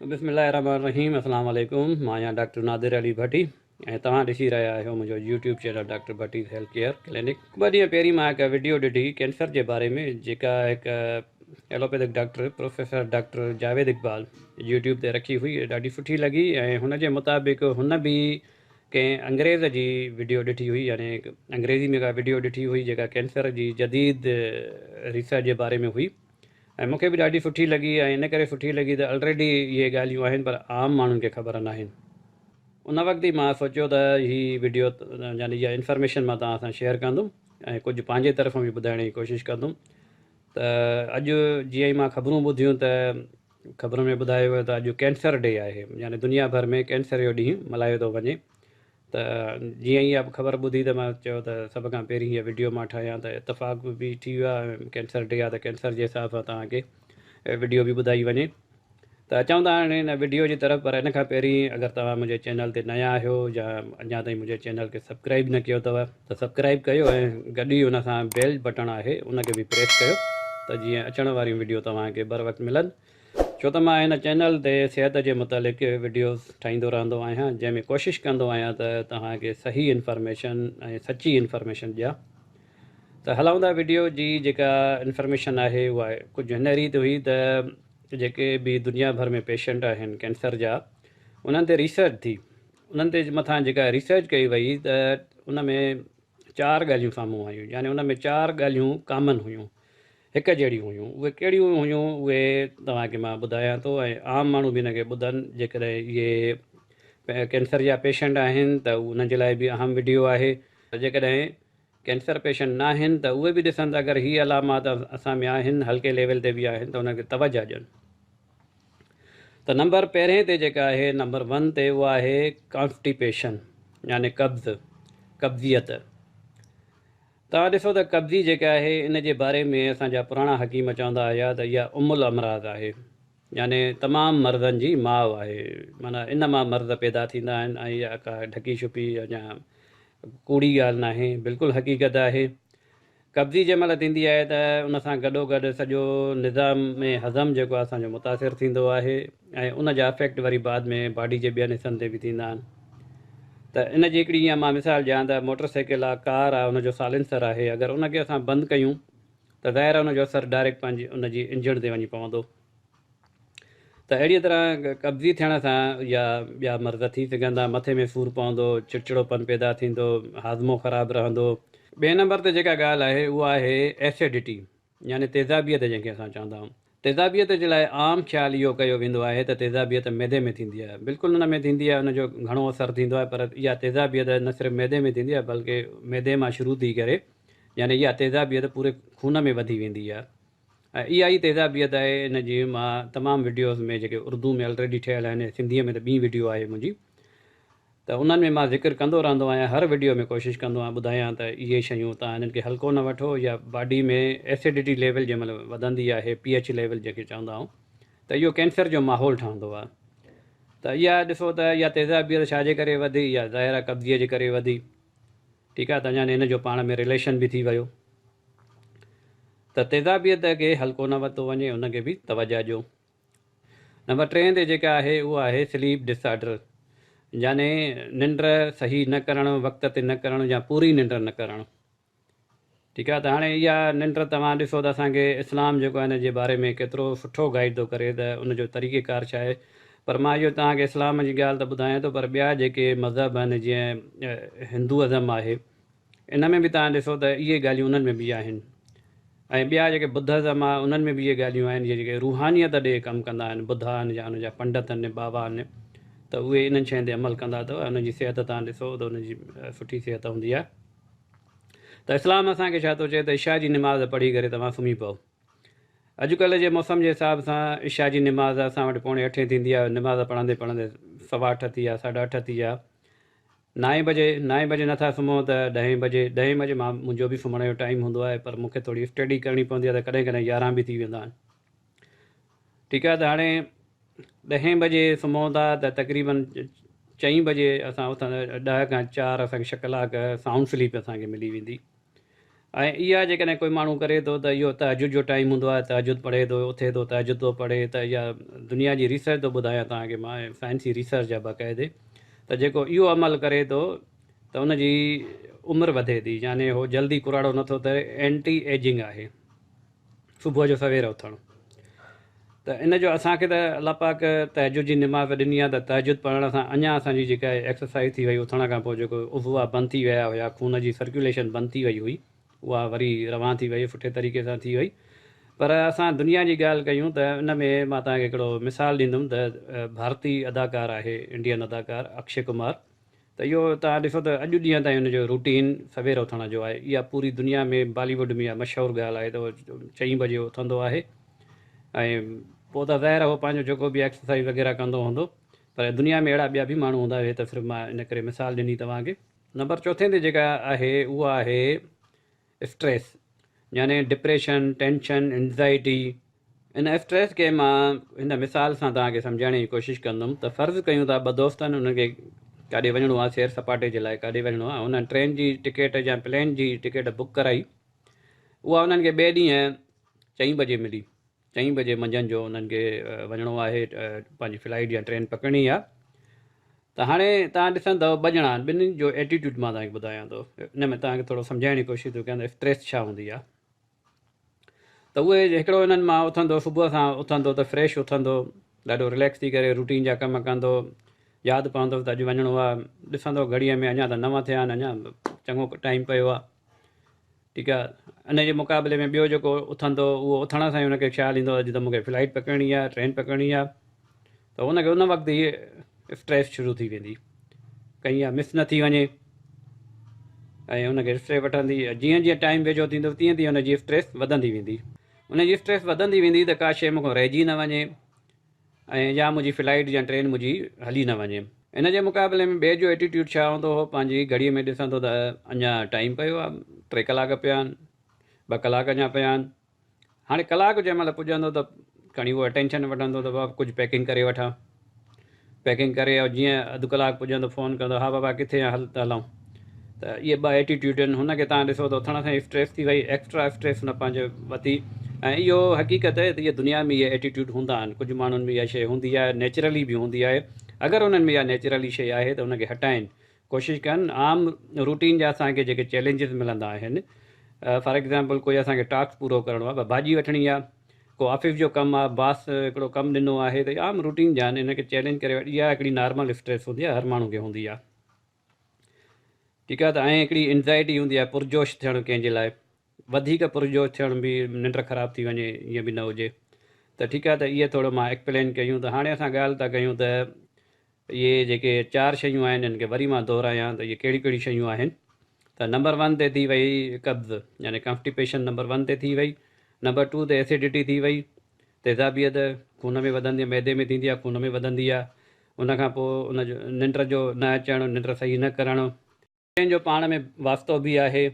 بسم الله الرحمن الرحيم اسلام عليڪم مان آهيان ڊاڪٽر نادر علي ڀٽي ۽ توهان ڏسي رهيا آهيو منهنجو YouTube channel doctor Bhatti's health care clinic ٻه ڏينهن پهرين مان هڪ وڊيو ڏٺي ڪينسر جي باري ۾ جيڪا هڪ allopathic doctor professor doctor Javed Iqbal YouTube تي رکي هئي ڏاڍي سٺي لڳي ۽ هن جي مطابق هن به ڪنهن انگريز جي وڊيو ڏٺي هئي يعني انگريزي ۾ ڪا وڊيو ڏٺي هئي جيڪا ڪينسر جي جديد ريسرچ جي باري ۾ هئي ۽ مون کي به ڏاڍي سٺي لڳي ۽ ان ڪري سٺي لڳي ته الريڊي اهي ڳالهيون آهن پر عام ماڻهن کي خبر ناهن ان وقت ئي مان سوچيو ته هي وڊيو يعني اها انفارميشن مان توهان سان شيئر ڪندم ۽ ڪجهه پنهنجي طرفان به ٻڌائڻ جي ڪوشش ڪندم ته اڄ جيئن ئي مان خبرون ٻڌيون ته خبرن ۾ ٻڌايو ويو ته اڄ ڪينسر ڊي آهي يعني دنيا ڀر ۾ ڪينسر جو ڏينهن ملهايو ٿو وڃي ته جيئن ئي اھا خبر ٻڌي ته مان چيو ته سڀ کان پهرين هيء وڊيو مان ٺاهيان ته اتفاق به ٺھي ويو آهي ۽ ڪينسر ڊي آهي ته ڪينسر جي حساب سان توهان کي وڊيو به ٻڌائي وڃي ته اچون ٿا هاڻي ان وڊيو جي طرف پر ان کان پهرين اگر توهان منهنجي چينل تي نيا آهيو يا اڃا تائين منهنجي چينل کي سبڪرائب نه ڪيو اٿو ته سبڪرائب ڪيو ۽ گڏ ئي ان سان بيل بٽڻ آهي ان کي به پريس ڪيو ته جيئن اچڻ واريون وڊيو توهان کي بروقت ملن. ڇو ته مان هن چينل تي صحت جي متعلق وڊيوز ٺاهيندو رهندو آهيان جنهن ۾ ڪوشش ڪندو آهيان ته توهان کي صحيح انفارميشن ۽ سچي انفارميشن ڏيان ته هلائوندا وڊيو جي جيڪا انفارميشن آهي اها ڪجهه هن ريت هئي ته جيڪي به دنيا ڀر ۾ پيشنٽ آهن ڪينسر جا انهن تي ريسرچ ٿي انهن تي مٿان جيڪا ريسرچ ڪئي وئي ته ان ۾ چار ڳالهيون سامهون آيون يعني ان ۾ چار ڳالهيون ڪامن هيون هڪ جهڙيون هيون. اهي ڪهڙيون هيون اهي توهان کي مان ٻڌايان ٿو ۽ عام ماڻهو به ان کي ٻڌن جيڪڏهن اهي ڪينسر جا پيشنٽ آهن ته انهن جي لاء به اهم وڊيو آهي ته جيڪڏهن ڪينسر پيشنٽ ناهن ته اهي به ڏسن ته اگر هي علامات اسان ۾ آهن هلڪي ليول تي به آهن ته انهن کي توجه ڏين ته نمبر پهرين تي جيڪا آهي نمبر ون تي اها آهي ڪانسٽيپيشن يعني قبض قبضيت توهان ڏسو ته قبضي جيڪا آهي ان جي باري ۾ اسان جا پراڻا حڪيم چوندا هيا ته اها ام الامراض آهي يعني تمام مرضن جي ماء آهي معنيٰ ان مان مرض پيدا ٿيندا آهن ۽ اها ڪا ڍڪي ڇپي يا ڪوڙي ڳالهه ناهي بلڪل حقيقت آهي قبضي جنهن مهل ٿيندي آهي ته ان سان گڏو گڏ سڄو نظام ۾ هضم جيڪو آهي اسان جو متاثر ٿيندو آهي ۽ ان جا افيڪٽ وري بعد ۾ باڊي جي ٻين حصن تي به ٿيندا آهن. ته ان جي هڪڙي ايئن مان مثال ڏيان ته موٽر سائيڪل آ ڪار آ ان جو سالينسر آهي اگر ان کي اسان بند ڪيون ته ظاهر آ ان جو اثر ڊائريڪٽ پنهنجي ان جي انجڻ تي وڃي پوندو ته اهڙي طرح قبضي ٿيڻ سان يا ٻيا مرض ٿي سگهن ٿا مٿي ۾ سور پوندو چڙچڙو پن پيدا ٿيندو هاضمو خراب رهندو. ٻئي نمبر تي جيڪا ڳالهه آهي اها آهي ايسيڊٽي يعني تيزابيت جنهن کي اسان چوندا آهيون. تيزابيت جي لاء عام خيال اهو ڪيو ويندو آهي ته تيزابيت معدي ۾ ٿيندي آهي. بلڪل ان ۾ ٿيندي آهي ان جو گهڻو اثر ٿيندو آهي پر اها تيزابيت نه صرف معدي ۾ ٿيندي آهي بلڪ معدي مان شروع ٿي ڪري يعني اها تيزابيت پوري خون ۾ وڌي ويندي آهي ۽ اها ئي تيزابيت آهي ان جي مان تمام وڊيوز ۾ جيڪي اردو ۾ الريڊي ٺهيل آهن سنڌي ۾ ته ٻي وڊيو آهي منهنجي ته انهن ۾ مان ذڪر ڪندو رهندو آهيان هر وڊيو ۾ ڪوشش ڪندو آهيان ٻڌايان ته اهي شيون تان هنن کي هلڪو نه وٺو يا باڊي ۾ ايسڊٽي ليول جنهن مهل وڌندي آهي پي ايڇ ليول جنهن کي چوندا آهيون ته اهو ڪينسر جو ماحول ٺهندو آهي ته اها ڏسو ته يا تيزابيت ڇا جي ڪري وڌي يا ظاهر آهي قبضي جي ڪري وڌي ٺيڪ آهي ته اڃا هن جو پاڻ ۾ رليشن به ٿي ويو ته تيزابيت کي هلڪو نه ورتو وڃي ان کي به توجه ڏيو. نمبر ٽئين تي جيڪا آهي اهو آهي سليپ ڊس آرڊر يعني ننڊ صحيح نه ڪرڻ وقت تي نه ڪرڻ يا پوري ننڊ نه ڪرڻ ٺيڪ آهي ته هاڻي اها ننڊ توهان ڏسو ته اسان کي اسلام جيڪو آهي ان جي باري ۾ ڪيترو سٺو گائيڊ ٿو ڪري ته ان جو طريقه ڪار ڇا آهي پر مان اهو توهان کي اسلام جي ڳالهه ته ٻڌايان ٿو پر ٻيا جيڪي مذهب آهن جيئن هندو ازم آهي ان ۾ به توهان ڏسو ته اهي ڳالهيون انهن ۾ به آهن ۽ ٻيا جيڪي بدهزم آهي انهن ۾ به اهي ڳالهيون آهن جي جيڪي روحانيت ڏي ڪم ڪندا آهن بدها آهن يا ان جا پنڊت آهن بابا آهن ته اهي انهن شين تي عمل ڪندا ته انهن جي صحت توهان ڏسو ته انهن جي سٺي صحت هوندي آهي ته اسلام اسان کي ڇا ٿو چئي ته عشاء جي نماز پڙهي ڪري توهان سمهي پئو اڄڪلهه جي موسم جي حساب سان عشاء جي نماز اسان وٽ پوڻي اٺين ٿيندي آهي نماز پڙهندي پڙهندي سوا اٺ ٿي ويا ساڍا اٺ ٿي ويا نائين بجي نائين بجي نه ٿا سمهون ته ڏهين بجي ڏهين بجي مان منهنجو به سمهڻ جو ٽائيم هوندو آهي پر مونکي ٿوري اسٽڊي ڪرڻي پوندي آهي ته ڪڏهن ڪڏهن يارهن به ٿي ويندا آهن ٺيڪ آهي ته هاڻي ڏهين بجي سمهون ٿا ته تقريبن چئين بجي اسان اٿندا ڏهه کان چار اسانکي ڇهه ڪلاڪ سائونڊ سليپ اسانکي ملي ويندي ۽ اها جيڪڏهن ڪوئي ماڻهو ڪري ٿو ته اهو تهجد جو ٽائيم هوندو آهي، تهجد پڙهي ٿو، اٿي ٿو، تهجد ٿو پڙهي ته اها دنيا جي ريسرچ ٿو ٻڌايان توهان کي مان ۽ سائنسي ريسرچ آهي باقاعدي ته جيڪو اهو عمل ڪري ٿو ته ان جي عمر وڌي ٿي يعني هو جلدي ڪراڙو نٿو ٿئي اينٽي ايجنگ آهي. صبح جو سوير اٿڻ ته ان جو اسان کي ته الله پاڪ تهجد جي نماز ڏني آهي ته تهجد پڙهڻ سان اڃا اسان جي جيڪا ايڪسرسائز ٿي وئي اٿڻ کان پوء جيڪو عضوا بند ٿي ويا هيا خون جي سرڪيوليشن بند ٿي وئي هئي اها وري روان ٿي وئي سٺي طريقي سان ٿي وئي پر اسان دنيا جي ڳالهه ڪيون ته ان ۾ مان توهان کي هڪڙو مثال ڏيندم ته ڀارتي اداڪار آهي انڊين اداڪار اڪشي ڪمار ته اهو توهان ڏسو ته اڄ ڏينهن تائين ان جو روٽين سوير اٿڻ جو آهي. اها پوري دنيا ۾ بالي ووڊ ۾ اها مشهور ڳالهه آهي ته اهو چئين بجي اٿندو آهي ۽ پوء ته ظاهر آهي اهو پنهنجو جيڪو به ايڪسرسائيز وغيره ڪندو هوندو پر دنيا ۾ اهڙا ٻيا به ماڻهو هوندا اهي ته صرف مان ان ڪري مثال ڏني توهان کي. نمبر چوٿين تي جيڪا آهي اها آهي. اسٽريس يعني ڊپريشن، ٽينشن، انزائٽي. ان اسٽريس کي مان هن مثال سان توهان کي سمجهائڻ جي ڪوشش ڪندم ته فرض ڪيون ٿا ٻه دوست آهن انهن کي ڪاڏي وڃڻو آهي سير سپاٽي جي لاء ڪاڏي وڃڻو آهي انهن ٽرين جي ٽڪيٽ يا پلين جي ٽڪيٽ بڪ ڪرائي اها انهن کي ٻئي ڏينهن چئين بجي ملي چئين بجي منجهند جو انهن کي وڃڻو آهي پنهنجي فلائيٽ يا ٽرين پڪڙڻي آهي ته هاڻي تهان ڏسندؤ ٻه ڄڻا آهن ٻنهين جو ايٽيٽيوڊ مان تهان کي ٻڌايان ٿو ان ۾ تهان کي ٿورو سمجهائڻ جي ڪوشش ٿو ڪيان ته اسٽريس ڇا هوندي آهي ته اهي هڪڙو انهن مان اٿندو صبح سان اٿندو ته فريش اٿندو ڏاڍو رليڪس ٿي ڪري روٽين جا ڪم ڪندو ياد پوندو ته اڄ وڃڻو آهي ڏسندو گهڙيء ۾ اڃا ته نو ٿيا آهن اڃا چڱو ٽائيم پيو آهي ٺيڪ آ ان جي مقابلي ۾ ٻيو جيڪو اٿندو اهو اٿڻ سان ئي ان کي خيال ايندو اڄ ته مون کي فلائيٽ پڪڙڻي آ ٽرين پڪڙڻي آ ته ان کي ان وقت ئي اسٽريس شروع ٿي ويندي ڪئين اها مس نه ٿي وڃي ۽ ان کي اسٽريس وٺندي جيئن جيئن ٽائيم ويجهو ٿيندو تيئن تيئن ان جي اسٽريس وڌندي ويندي ان جي اسٽريس وڌندي ويندي ته ڪا شيء مون کان رهجي نه وڃي ۽ يا منهنجي فلائيٽ يا ٽرين منهنجي هلي نه وڃي. ان جي مقابلي ۾ ٻئي جو ائٽيٽيوڊ ڇا هوندو هو، پنهنجي گهڙيء ۾ ڏسان ٿو ته اڃا ٽائيم پيو آهي، ٽي ڪلاڪ پيا آهن، ٻه ڪلاڪ اڃا پيا آهن. هاڻي ڪلاڪ جنهن مهل پڄندو ته کڻي اهو اٽينشن وٺندو ته بابا ڪجهه پيڪنگ ڪري وٺان. پيڪنگ ڪري جيئن اڌ ڪلاڪ پڄندو فون ڪندو ها بابا ڪٿي آهين هل ته هلون. ته اهي ٻه ائٽيٽيوڊ آهن هن کي تهان ڏسو ته اٿڻ سان ئي اسٽريس ٿي وئي ايڪسٽرا اسٽريس هن پنهنجي وتي ۽ اهو حقيقت آهي ته اهي دنيا ۾ اهي ائٽيٽيوڊ هوندا آهن ڪجهه ماڻهن ۾ اها شيء هوندي آهي نيچرلي به هوندي آهي اگر انهن ۾ اها نيچرلي شيء آهي ته ان کي هٽائين ڪوشش ڪن عام روٽين جا اسانکي جيڪي چئلينجز ملندا آهن فار ايگزامپل ڪوئي اسانکي ٽاسڪ پورو ڪرڻو آهي ڀاڄي وٺڻي آهي ڪو آفيس جو ڪم آهي باس هڪڙو ڪم ڏنو آهي ته عام روٽين جا آهن ان کي چئلينج ڪري وٺ اها هڪڙي نارمل اسٽريس هوندي آهي هر ماڻهو کي هوندي آهي ٺيڪ آهي ته ائين هڪڙي انزائٽي هوندي آهي پرجوش ٿيڻ ڪنهن جي لاء وڌيڪ پرجوش ٿيڻ به ننڊ خراب ٿي وڃي ائين به نه هجي ته ٺيڪ آهي ته اهي ٿورو مان ايڪپلين ڪيون ته هاڻي اسان ڳالهه ٿا ڪيون ته اهي جيڪي چار شيون آهن ان کي وري مان دهرايان ته اهي ڪهڙيون ڪهڙيون شيون آهن ته نمبر ون تي ٿي وئي قبض يعني ڪانفٽيپيشن نمبر ون تي ٿي وئي نمبر ٽو تي ايسيڊٽي ٿي وئي تيزابيت خون ۾ وڌندي معدي ۾ ٿيندي آهي خون ۾ وڌندي آهي ان کان پوء ان جو ننڊ جو نه اچڻ ننڊ صحيح نه ڪرڻ. ٻنهي جو پاڻ ۾ واسطو به آهي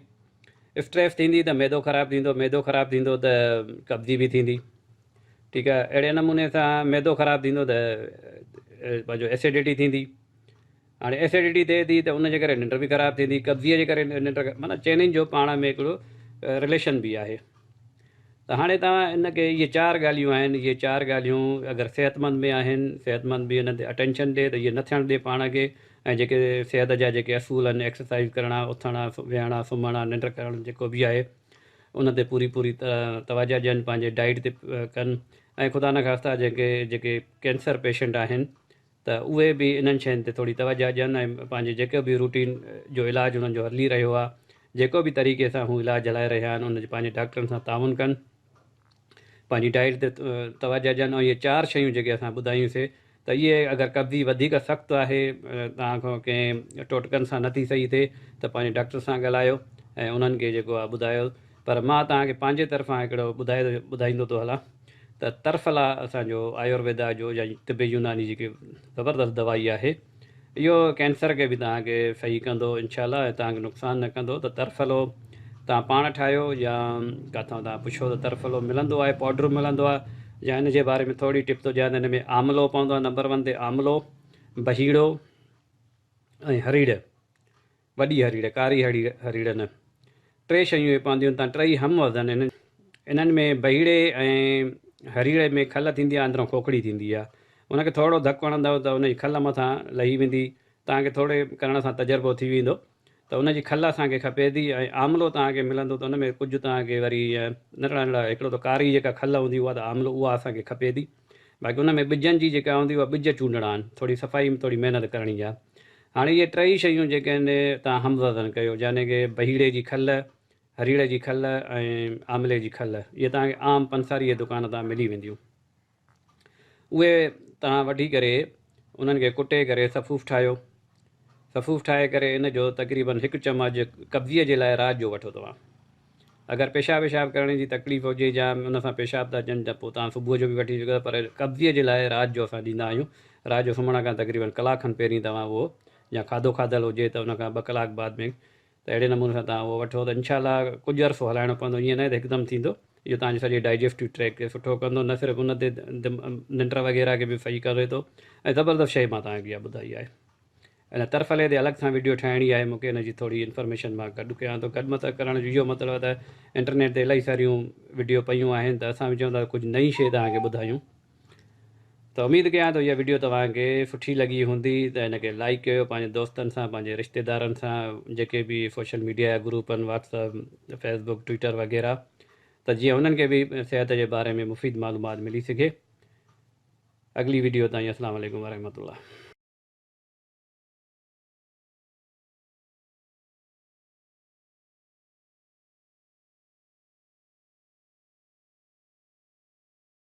اسٽريس ٿيندي ته معدو خراب ٿيندو معدو خراب ٿيندو ته قبضي به ٿيندي ٺيڪ آهي اهڙي نموني سان معدو خراب ٿيندو ته پنهنجو ايسڊٽي ٿيندي. هاڻي ايسيڊيٽي ٿئي ٿي ته ان جي ڪري ننڊ به خراب ٿيندي، قبضيء جي ڪري ننڊ، معنيٰ چئنين جو پاڻ ۾ هڪڙو رليشن به آهي. ته هاڻي توهان ان کي اهي چار ڳالهيون آهن، اهي چار ڳالهيون اگر صحتمند ۾ آهن، صحتمند به انهن تي اٽينشن ڏي ته اهي نه ٿيڻ ڏي پاڻ کي ۽ جيڪي صحت جا جيڪي اصول آهن، ايڪسرسائيز ڪرڻا، اٿڻ، ويهڻ، سمهڻ، ننڊ ڪرڻ جيڪو به آهي ان تي پوري پوري توجهه ڏين، پنهنجي ڊائيٽ تي ڪن ۽ خدا نخواسته جيڪي جيڪي ڪينسر پيشنٽ آهن، ته اهي به انهن شين تي ٿوري توجهه ڏين ۽ پنهنجي جيڪو به روٽين جو علاج انهن جو هلي رهيو آهي جيڪو به طريقي سان هو علاج هلائي رهيا آهن ان جو پنهنجي ڊاڪٽرن سان تعاون ڪن پنهنجي ڊائيٽ تي توجهه ڏين ۽ اهي چار شيون جيڪي اسان ٻڌايون سي ته اهي اگر قبضي وڌيڪ سخت آهي توهان کان ڪنهن ٽوٽڪن سان نٿي صحيح ٿئي ته پنهنجي ڊاڪٽر سان ڳالهايو ۽ انهن کي جيڪو آهي ٻڌايو پر مان توهان کي پنهنجي طرفان هڪڙو ٻڌايو ٻڌائيندو ٿو هلان ته ترفلا اسان جو آيورويدا جو يا طب يوناني جيڪي زبردست دوائي آهي اهو ڪينسر کي به توهان کي صحيح ڪندو انشاء الله ۽ توهان کي نقصان نه ڪندو ته ترفلو توهان پاڻ ٺاهيو يا ڪٿان توهان پڇو ته ترفلو ملندو آهي پوڊر ملندو آهي يا ان جي باري ۾ ٿوري ٽپ ٿو ڏيان ته ان ۾ آملو پوندو آهي نمبر ون تي آملو بهيڙو ۽ هريڙ وڏي هريڙ، ڪاري هريڙ، هريڙ نه. ٽي شيون اهي پونديون تان ٽئي هم وزن هن. انهن ۾ بهيڙي ۽ هريڙي ۾ کل ٿيندي آ اندرون کوکڙي ٿيندي آ. ان کي ٿورڙو ڌڪ هڻندؤ ته ان جي کل مٿان لهي ويندي. توهان کي ٿورڙي ڪرڻ سان تجربو ٿي ويندو ته ان جي کل اسان کي کپي ٿي ۽ آملو توهان کي ملندو ته ان ۾ ڪجهه توهان کي وري ننڍڙا ننڍڙا هڪڙو ته ڪاري جيڪا کل هوندي اها ته آملو اها اسان کي کپي ٿي. باقي ان ۾ ٻجن جي جيڪا هوندي اها ٻج چونڊڻا آهن ٿوري صفائي ۾ ٿوري محنت ڪرڻي آهي هاڻي اهي ٽئي شيون جيڪي آهن تان هموزن ڪيو جاني ڪي بهيڙي جي کل هريڙ جي کل ۽ آملي جي کل اهي توهان کي عام پنساري جي دڪان تان ملي وينديون اهي توهان وٺي ڪري انهن کي ڪٽي ڪري صفوف ٺاهيو صفوف ٺاهي ڪري ان جو تقريباً هڪ چمچ قبضيء جي لاء رات جو وٺو توهان اگر پيشاب ويشاب ڪرڻ جي تڪليف هجي جا ان سان پيشاب ٿا اچن ته پوء توهان صبح جو به وٺي سگهو ٿا پر قبضيء جي لاء رات جو اسان ڏيندا آهيون رات جو سمهڻ کان تقريباً ڪلاڪ کن پهرين توهان اهو جا کاڌو کاڌل هجي ته ان کان ٻه ڪلاڪ بعد ۾ ته اهڙي نموني سان توهان اهو وٺو ته انشاء الله ڪجهه عرصو هلائڻو پوندو ائين ناهي ته هڪدم ٿيندو اهو توهان جو سڄي ڊائجسٽو ٽريڪ کي سٺو ڪندو نه صرف ان تي ننڊ وغيره کي به صحيح ڪري ٿو ۽ زبردست شيء مان توهان کي اها ٻڌائي آهي ان ترفلي تي الڳ سان ويڊيو ٺاهڻي آهي مونکي ان جي ٿوري انفارميشن مان گڏ ڪيان ٿو گڏ مطلب ڪرڻ جو اهو مطلب ته انٽرنيٽ تي الاهي ساريون ويڊيو پيون آهن ته اسان به چون ٿا ته ڪجهه نئين شيء توهان کي ٻڌايون ته اميد ڪيان ٿو اها وڊيو توهان کي سٺي لڳي هوندي ته هن کي لائيڪ ڪيو پنهنجي دوستن سان پنهنجي رشتيدارن سان جيڪي به سوشل ميڊيا جا گروپ آهن WhatsApp Facebook Twitter وغيره ته جيئن انهن کي به صحت جي باري ۾ مفيد معلومات ملي سگهي اڳلي وڊيو تائين اسلام عليڪم ورحمة الله.